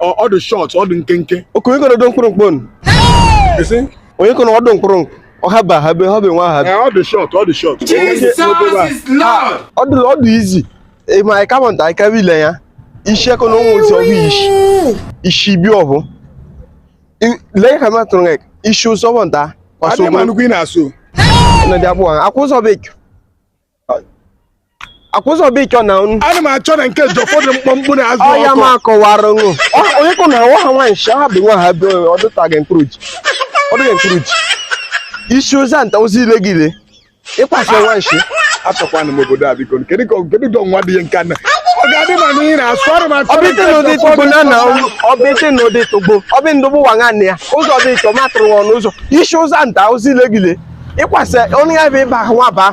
ọ dị shọt ọ dị nkenke okenye kọrọ ọdụ mkpụrụmkpụ onye kọrọ ọdụ mkpụrụmkpụ ọhaba habe ha be nwa ha ọ dị shọt ọ dị shọt ọ dị ọ dị izi ma anyị kama nta anyị kama ile ya isi eko na ụmụ nsị ọbụ isi isi bi ọbụ lee ka ma tụrụ isi ụzọ bụ nta kwaso ụmụ nnukwu ị na-asụ na dị abụọ akwụ ụzọ bekee akwụsị ọbụ ịchọ na unu ana m achọ na nke ji ụfọdụ mkpụmkpụ na-azụ ọya m ọkụ akọwara ṅụ onye kụ na nwa ha nwaanyị shi ha bụ nwa ha bụ ọ dụtaghị mkpụrụ ji ọ dụghị mkpụrụ ji isi ụzọ nta ozi ile gị ile ịkwasị nwa nshi achọkwana m obodo a biko kedu ka kedu ka ọnwa dị ihe nke na ọ ga-adị ma na ị na-asụ ọrụ m achọ na nke ọbịte na ụdị ji tụgbo ụfọdụ na na mkpụmkpụ ọbịte na ụdị tụgbo ọbị ndụgbụ wa nwanne ya ụzọ dị ịchọ matụrụ nwa ọnụ ụzọ isi ụzọ nta ozi ile gị ile ịkwasị onye ya bụ ịba ahụ nwa baa